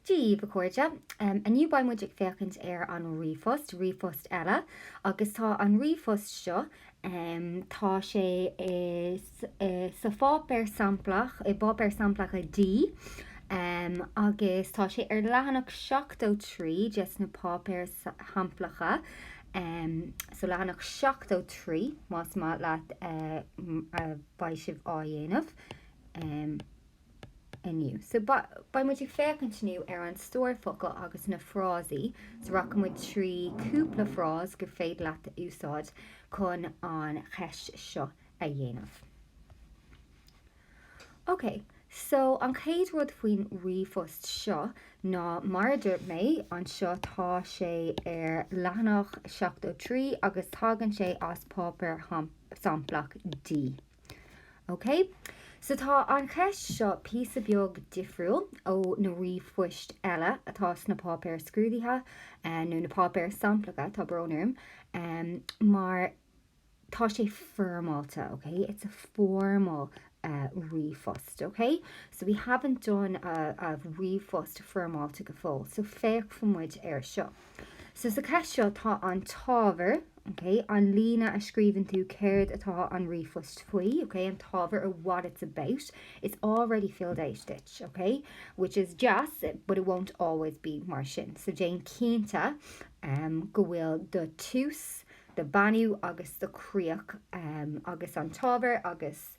Daoibh, a chairde. Inniu beidh muid ag féachaint ar an ríomhphost, ríomhphost eile, agus tá an ríomhphost seo, tá sé sa pháipéar samplach, i bpáipéar samplacha D, agus tá sé ar leathanach 73 des na páipéir shamplacha, so leathanach 73 más maith leat a bheith sibh á dhéanamh. inniu. So, beidh muid ag féachaint inniu ar an stór focal agus na frásaí. So, rachaidh muid trí cúpla frás gur féidir leat a úsáid chun an cheist seo a dhéanamh. Ok, so an chéad rud faoin ríomhphost seo ná, mar a dúirt mé, anseo tá sé ar leathanach 73 agus tagann sé as páipéar samplach D. OK. So tá an cheist seo píosa beag difriúil ó na ríomhphoist eile atá sna páipéir scrúdaithe, nó na páipéir samplacha, tá brón orm, mar tá sé foirmeáilte, OK, it's a formal ríomhphost, OK. So we haven't done a ríomhphost foirmeáilte go fóill, so féachfaidh muid air seo. So sa cheist seo tá an t-ábhar, ok, an líne a scríobhann tú céard atá an ríomhphost faoi, ok, an t-ábhar or what it's about, it's already filled out duit, ok, which is deas but it won't always be mar sin. So déan cinnte um go bhfuil do thús, do bheannú agus do chríoch um agus an t-ábhar agus.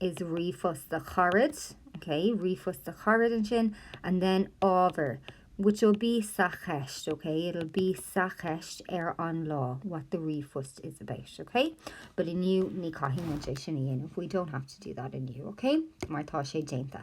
is ríomhphost do charad, OK, ríomhphost do charad ansin, and then ábhar, which will be sa cheist, OK, it'll be sa cheist ar an lá what the ríomhphost is about, OK. But inniu, ní chaithfidh muid é sin a dhéanamh, we don't have to do that inniu, OK, mar tá sé déanta.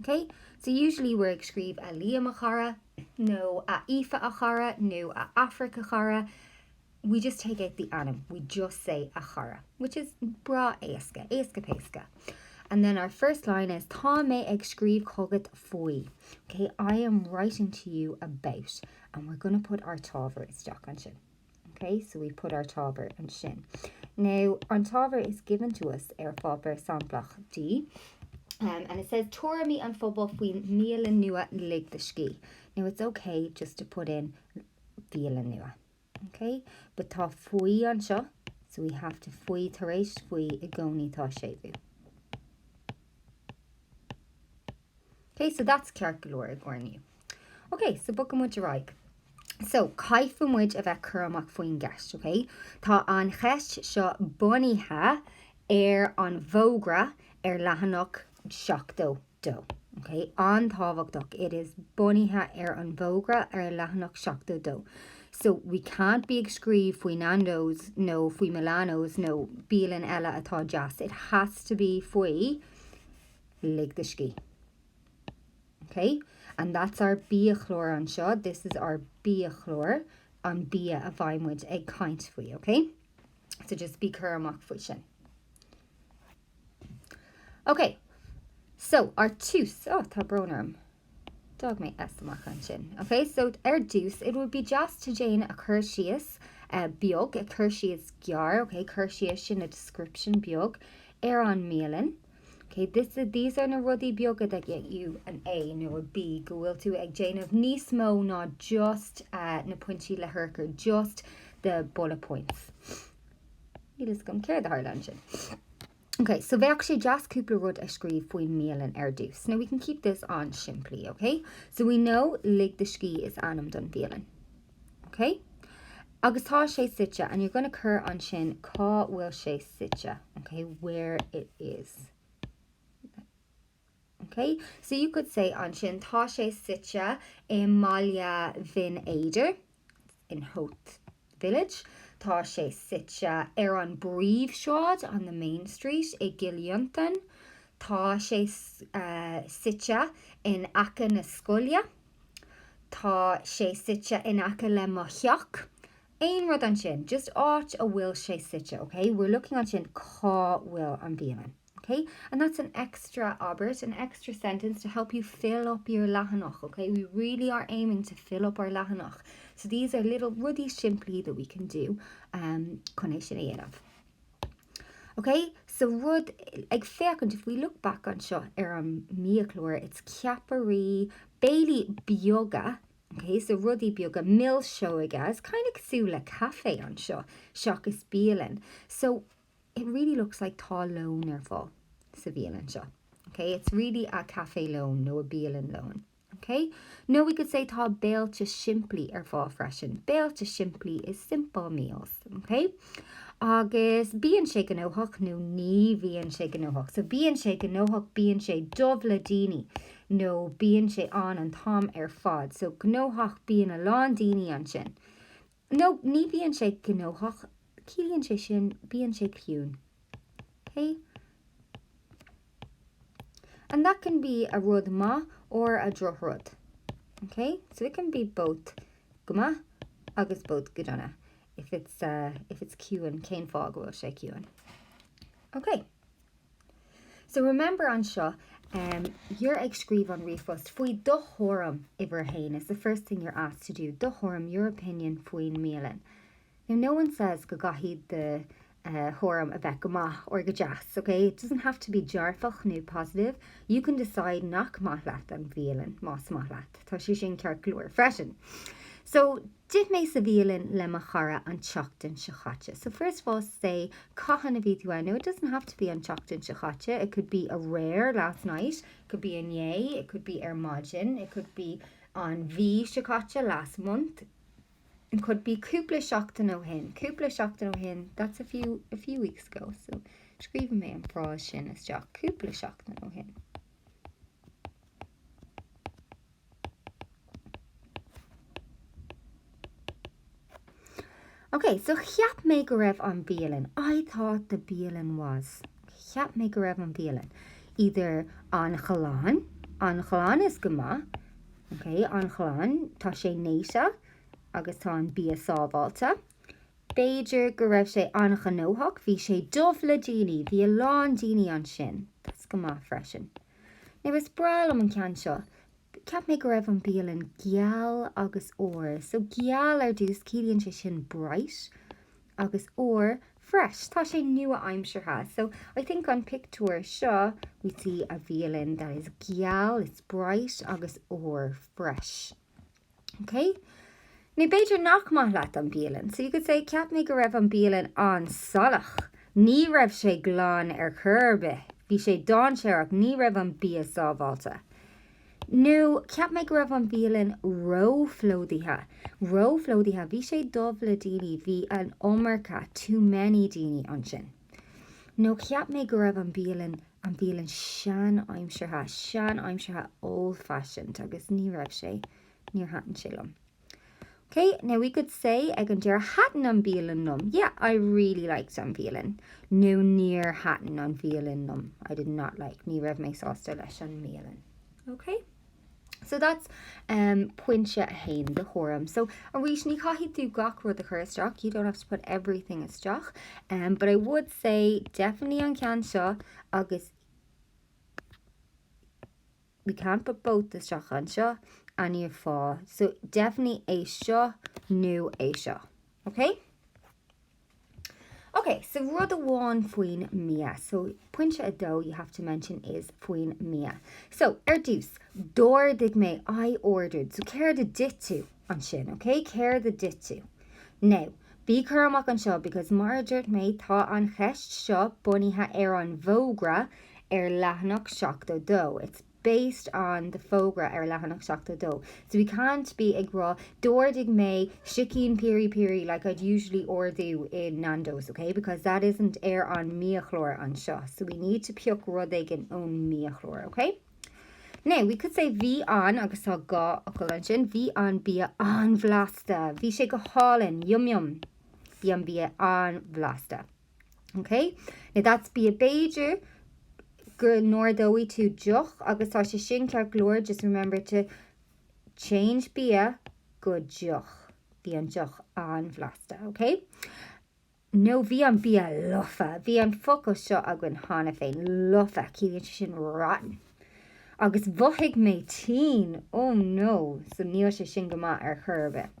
OK, So usually we're ag scríobh A Liam, a chara, nó A Aoife, a chara, nó A Aifric, a chara, we just take out the ainm, we just say a chara, which is breá éasca, éasca péasca. And then our first line is Tá mé ag scríobh chugat faoi, OK, I am writing to you about, and we're going to put our t-ábhar isteach ansin. OK, so we put our t-ábhar ansin. Now, an t-ábhar is given to us ar pháipéar samplach D, um, and it says tuairimí an phobail faoin mbialann nua Lig do Scíth. Now, it's OK just to put in bhialann nua. OK, but tá faoi anseo, so we have to faoi tar éis faoi i gcónaí tá séimhiú. Ok, so that's ceart go leor i gcomhair inniu. Ok, so bogfaidh muid ar aghaidh. So, caithfidh muid a bheith cúramach faoin gceist, ok? Tá an cheist seo bunaithe ar an bhfógra ar leathanach 72, ok? An-tábhachtach, it is bunaithe ar an bhfógra ar leathanach 72. So, we can't be ag scríobh faoi Nando's nó faoi Milano's nó bialann eile atá deas, it has to be faoi Lig do scíth. OK? And that's ár biachlár anseo. This is ár biachlár, an bia a bheidh muid ag caint faoi, OK? So just bí cúramach faoi sin. OK, so ar dtús, oh, tá brón orm. D'fhág mé S amach ansin. Ok, so ar dtús it would be just to déan a cur síos beag, a cur síos gearr, ok, cur síos sin a description beag ar an mbialann. Ok, this is, these are na rudaí beaga that get you an A nó a B, go bhfuil tú ag déanamh níos mó ná just na pointí le hurchar, just the bullet points. Níl a fhios agam céard a tharla ansin. Ok, so bheadh sé deas cúpla rud a scríobh faoin mbialann ar dtús. Now we can keep this an-simplí, ok? So we know Lig do Scíth is ainm don bhialann. Ok? Agus tá sé suite, and you're going to cur ansin cá bhfuil sé suite, ok, where it is. OK, so you could say ansin, tá sé suite i mBaile Bhinn Éadair, in Howth village. Tá sé suite ar an bpríomhshráid, on the main street, i gCill Fhionntain. Tá sé suite in aice na scoile. Tá sé suite in aice le mo theach. Aon rud ansin, just áit a bhfuil sé suite, OK? We're looking ansin, cá bhfuil an bhialann? Ok, and that's an extra abairt, an extra sentence to help you fill up your leathanach, ok, we really are aiming to fill up our leathanach, so these are little rudaí simplí that we can do chun é sin a dhéanamh. Ok, so ag féachaint, if we look back anseo ar an mbiachlár, it's ceapairí, béilí beaga, ok, so rudaí beaga, milseoga, it's kind of cosúil le caife anseo, seachas bialann. So It really looks like tá lón ar fáil sa bhialann seo. Ok, it's really a caife lóin nó a bialann lóin. Ok, nó we could say tá béilte simplí ar fáil freisin. Béilte simplí is simple meals. Ok, agus bíonn sé gnóthach nó ní bhíonn sé gnóthach. So bíonn sé gnóthach, bíonn sé dubh le daoine nó bíonn sé ann an t-am ar fad. So gnóthach, bíonn a lán daoine ansin. nó ní bhíonn sé gnóthach, ciallaíonn sé sin bíonn sé ciúin. Okay? And that can be a rud maith or a drochrud. Okay? So it can be both go maith agus both go dona if it's, uh, if it's ciúin, cén fáth go bhfuil sé ciúin. Okay. So remember anseo, em, you're ag scríobh an ríomhphost faoi do thuairim uimhir a haon is the first thing you're asked to do do thuairim your opinion faoin mbialann. Now no one says go gcaithfidh do, eh, thuairim a bheith go maith or go deas, okay? It doesn't have to be dearfach nó positive. You can decide nach maith leat an bhialann más maith leat. Tá sé sin ceart go leor freisin. So. D'ith mé sa bhialann le mo chara an tseachtain seo chaite. So first of all say cathain a bhí tú ann. Now it doesn't have to be an tseachtain seo chaite, it could be aréir last night, it could be inné, it could be ar maidin, it could be an mhí seo caite last month, it could be cúpla seachtain ó shin, cúpla seachtain ó shin that's a few a few weeks ago so scríobhfaidh mé an frása sin isteach cúpla seachtain ó shin. Ok, so cheap mé go raibh an bhialann, I thought the bialann was, cheap mé go raibh an bhialann, either an-ghlan, an-ghlan is go maith, ok, an-ghlan, tá sé néata agus tá an bia sábháilte. B'fhéidir go raibh sé an-ghnóthach, bhí sé dubh le daoine, bhí a lán daoine ansin, that's go maith freisin. Now is breá liom an ceann seo. Cheap mé go raibh an bialann geal agus úr. So geal ar dtús, ciallaíonn sé sin bright agus úr fresh. Tá sé nua-aimseartha. So I think an pictiúr seo we see a bialann that is geal, it's bright agus úr fresh. Okay? Now b'fhéidir nach maith leat an bialann. So you could say, Ceap mé go raibh an bialann an-salach. Ní raibh sé glan ar chor ar bith. Bhí sé dáinséarach. Ní raibh an bia sábháilte. Nó, Ceap mé go raibh an bialann róphlódaithe. Róphlódaithe. Bhí sé dubh le daoine. Bhí an iomarca, too many, daoine ansin. Nó cheap mé go raibh an bialann, an bhialann seanaimseartha, seanaimseartha old-fashioned agus ní raibh sé, níor thaitin sé liom. Ok, now we could say ag an deireadh thaitin an bialann liom, yeah, I really liked an bhialann. Nó níor thaitin an bhialann liom, I did not like, ní raibh mé sásta leis an mbialann. Ok? So that's um, pointe a haon do thuairim. So arís ní chaithfidh tú gach rud a chur isteach, you don't have to put everything isteach, um, but I would say definitely an ceann seo agus we can put both isteach anseo an aimsir fháistineach. So definitely é seo nó é seo. Okay? Ok, so rud amháin faoin mbia. So, pointe a dó you have to mention is faoin mbia. So, ar dtús, d'ordaigh mé, I ordered. So, céard a d'ith tú ansin, ok? Céard a d'ith tú? Now, bí cúramach anseo because mar a dúirt mé tá an cheist seo bunaithe ar an bhfógra ar leathanach 72. It's. based on the fógra ar leathanach 72 so we can't be ag rá d'ordaigh mé sicín piri piri like I'd usually ordú i Nando's ok because that isn't ar an mbiachlár anseo so we need to pioc rud éigin ón mbiachlár ok now we could say bhí an agus tá gá focal ansin bhí an bia an-bhlasta bhí sé go hálainn yum yum bhí an bia an-bhlasta OK? Now that's bia b'fhéidir go n-ordóidh tú deoch agus tá sé sin ceart go leor, just remember to change bia go deoch. Bhí an deoch an-bhlasta, OK? Nó bhí an bia lofa. Bhí an focal seo againn cheana féin, lofa, ciallaíonn sé sin rotten. Agus mhothaigh mé tinn, oh no, so níl sé sin go maith ar chor ar bith.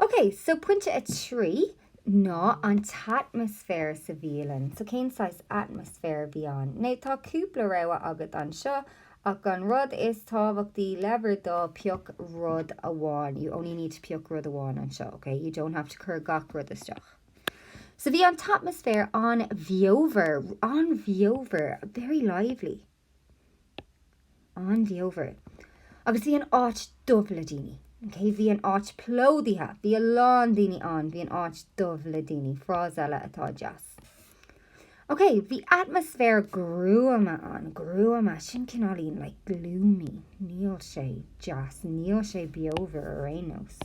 Ok, so pointe 3 ná an t-atmaisféar sa bhialann. So cén saghas atmaisféar a bhí ann? Now tá cúpla rogha agat anseo ach an rud is tábhachtaí le bhur dtoil pioc rud amháin. You only need to pioc rud amháin anseo, ok? You don't have to cur gach rud isteach. So bhí an t-atmaisféar an-bheomhar, an-bheomhar, very lively. an-bheomhar agus bhí an áit dubh le daoine. Okay, bhí an áit plódaithe, bhí a lán daoine ann, bhí an áit dubh le daoine, frása eile atá deas. Okay, bhí atmaisféar gruama ann, gruama, sin cineáilín, like gloomy, níl sé deas, níl sé beomhar ar aon nós.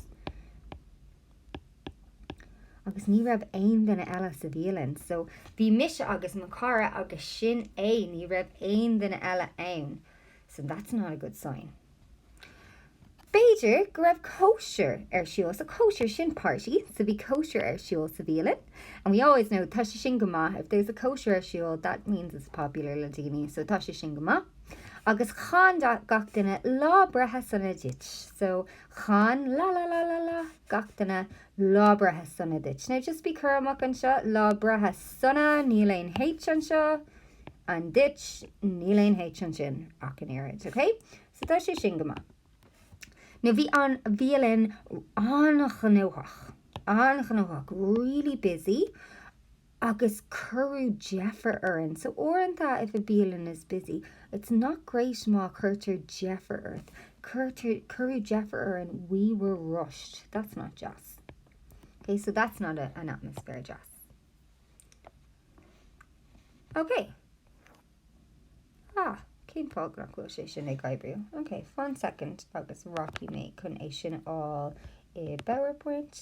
agus ní raibh aon duine eile sa bhialann so bhí mise agus mo chara agus sin é ní raibh aon duine eile ann so that's not a good sign b'fhéidir go raibh cóisir ar siúl so cóisir sin party so bhí cóisir ar siúl sa bhialann and we always know tá sé sin go maith if there's a cóisir ar siúl that means it's popular le daoine so tá sé sin go maith agus chan gach duine lá breithe sona duit so Chan la la la la la gach duine Lá Breithe Sona duit. Now just be cúramach anseo, Lá Breithe Sona, níl aon H anseo, and duit, níl aon H ansin ach an oiread, ok? So tá sé sin go maith. Now bhí an bhialann an-ghnóthach, an-ghnóthach, really busy, agus cuireadh deifir orainn so uaireanta if a bhialann is busy it's not great má cuirtear deifir ort cuirtear cuireadh deifir orainn we were rushed that's not deas ok so that's not a, an atmaisféar deas ok ah cén fáth nach bhfuil sé sin ag oibriú ok one second agus rachaidh mé chun é sin a fháil i powerpoint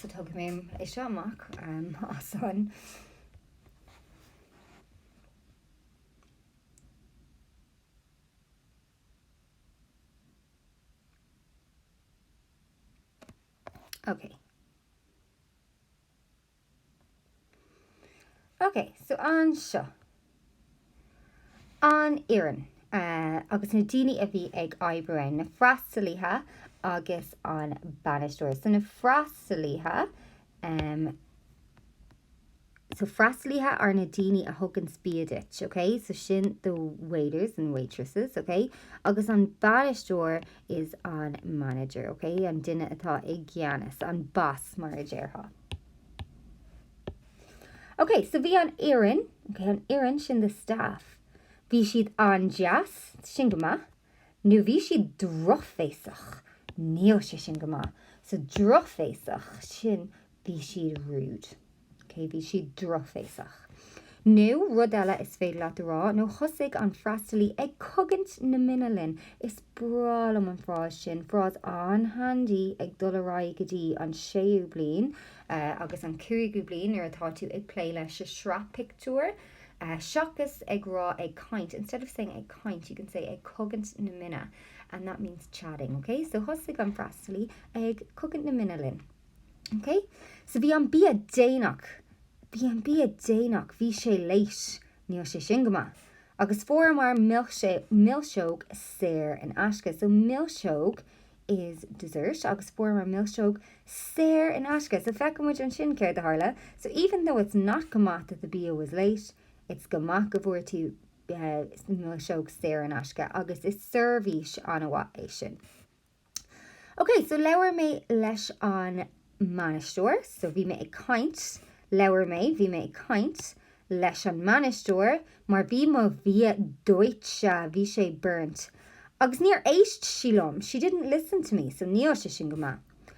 So tógfaidh mé é seo amach um, as. Okay. Ok, so anseo. An fhoireann agus na daoine a bhí ag obair ann, na freastalaithe agus an bainisteoir. So na freastalaithe, so freastalaithe are na daoine a thugann bia duit, ok? So sin the waiters and waitresses, ok? Agus an bainisteoir is an manager, ok? An duine atá i gceannas, an boss mar a déarfá. OK, so bhí an fhoireann, OK, an fhoireann sin the staff, bhí siad an-deas, sin go maith, nó bhí siad drochbhéasach, níl sé sin go maith. So drochbhéasach, sin bhí siad rude. OK, bhí siad drochbhéasach. Nó rud eile is féidir leat a rá, nó thosaigh an freastalaí ag cogaint na mine linn. Is breá liom an frása sin, frása an-handy ag dul ar aghaidh go dtí an séú bliain, agus an cúigiú bliain nuair atá tú ag plé leis an sraith pictiúr, seachas ag rá ag caint, instead of saying ag caint, you can say ag cogaint na mine, and that means chatting, okay? So thosaigh an freastalaí ag cogaint na mine linn. Ok so bhí an bia déanach bhí an bia déanach bhí sé late níl sé sin go maith agus fuaireamar milseog saor in aisce so milseog is dessert agus fuaireamar milseog saor in aisce so feiceann muid ansin céard a tharla so even though it's not go maith that the bia was late it's go maith go bhfuair tú milseog saor in aisce agus is seirbhís an-mhaith é sin. OK, so labhair mé leis an mbainisteoir, so bhí mé ag caint, labhair mé, bhí mé ag caint, leis an mbainisteoir mar bhí mo bhia dóite, bhí sé burnt, agus níor éist sí liom, she didn't listen to me, so níl sé sin go maith.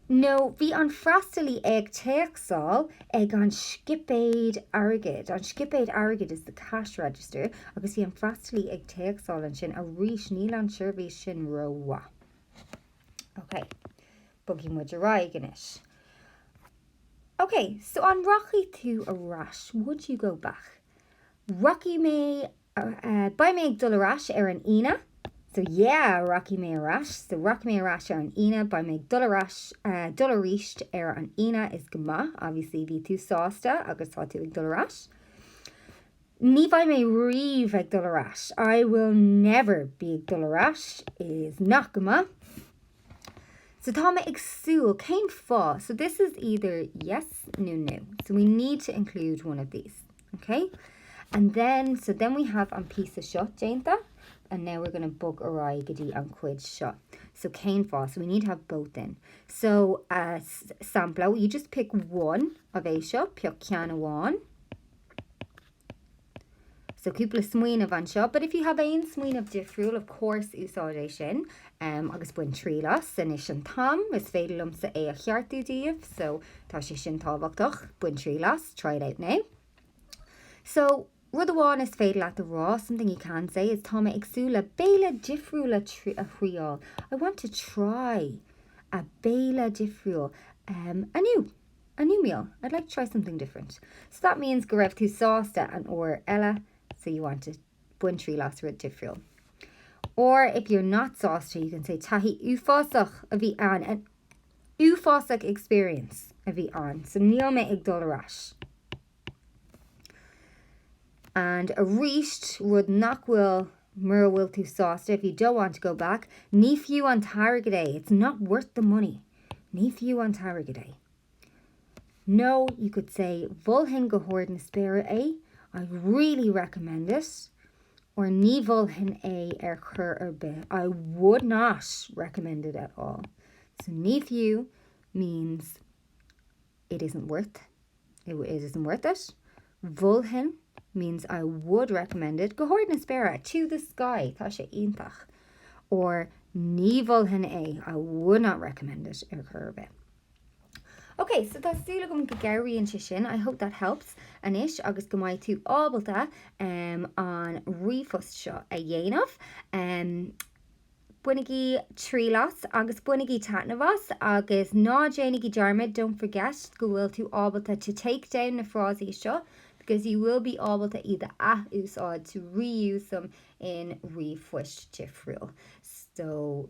nó bhí an freastalaí ag téacsáil ag an scipéad airgid, an scipéad airgid is the cash register, agus bhí an freastalaí ag téacsáil ansin, arís níl an seirbhís sin rómhaith. Ok, bogfaidh muid ar aghaidh anois. Ok, so an rachaidh tú ar ais? Would you go back? Rachaidh mé Beidh mé ag dul ar ais ar an Aoine. So yeah! Rachaidh mé ar ais. So rachaidh mé ar ais ar an Aoine. Beidh mé ag dul ar ais, dul arís ar an Aoine is go maith. Obviously, bhí tú sásta agus tá tú ag dul ar ais. Ní bheidh mé riamh ag dul ar ais. I will never be ag dul ar ais is not go maith. So tá mé ag súil, cén fáth? So this is either yes nó no. So we need to include one of these. OK. And then, so then we have an píosa seo déanta and now we're going to bog ar aghaidh go dtí an cuid seo. So cén fáth? So we need to have both in. So uh, sampla, you just pick one of é seo, pick ceann amháin. So cúpla smaoineamh anseo, but if you have aon smaoineamh difriúil, of course, úsáid é sin. am agus bain triail as, anois an t-am, is féidir liomsa é a cheartú daoibh so tá sé sin tábhachtach, bain triail as, try it out now. So, rud amháin is féidir leat a rá, something you can say is tá mé ag súil le béile difriúil a thriail, I want to try a béile difriúil um a new, a new meal, I'd like to try something different. So that means go raibh tú sásta an uair eile so you want to. bain triail as rud difriúil or if you're not sásta you can say taithí uafásach a bhí ann an uafásach experience a bhí ann so níl mé ag dul ar ais and aríst rud nach bhfuil mura bhfuil tú sásta if you don't want to go back ní fiú an t-airgead é it's not worth the money ní fiú an t-airgead é Nó, you could say, Mholfainn go hard na spéire é, I really recommend it. Or Ní mholfainn é ar chor ar bith, I would not recommend it at all. So Ní fiú means it isn't worth it, it isn't worth it. Mholfainn means I would recommend it go hard na spéire, to the sky. Tá sé iontach. Or Ní mholfainn é, I would not recommend it ar chor ar bith. Ok, so tá súil agam go gcabhraíonn sé sin. I hope that helps anois agus go mbeidh tú ábalta um, an ríomhphost seo a dhéanamh. Um, bainigí triail as agus bainigí taitneamh as agus ná déanaigí dearmad, don't forget, go bhfuil tú ábalta to take down na frásaí seo because you will be ábalta iad a athúsáid to reuse them in ríomhphoist difriúil. So,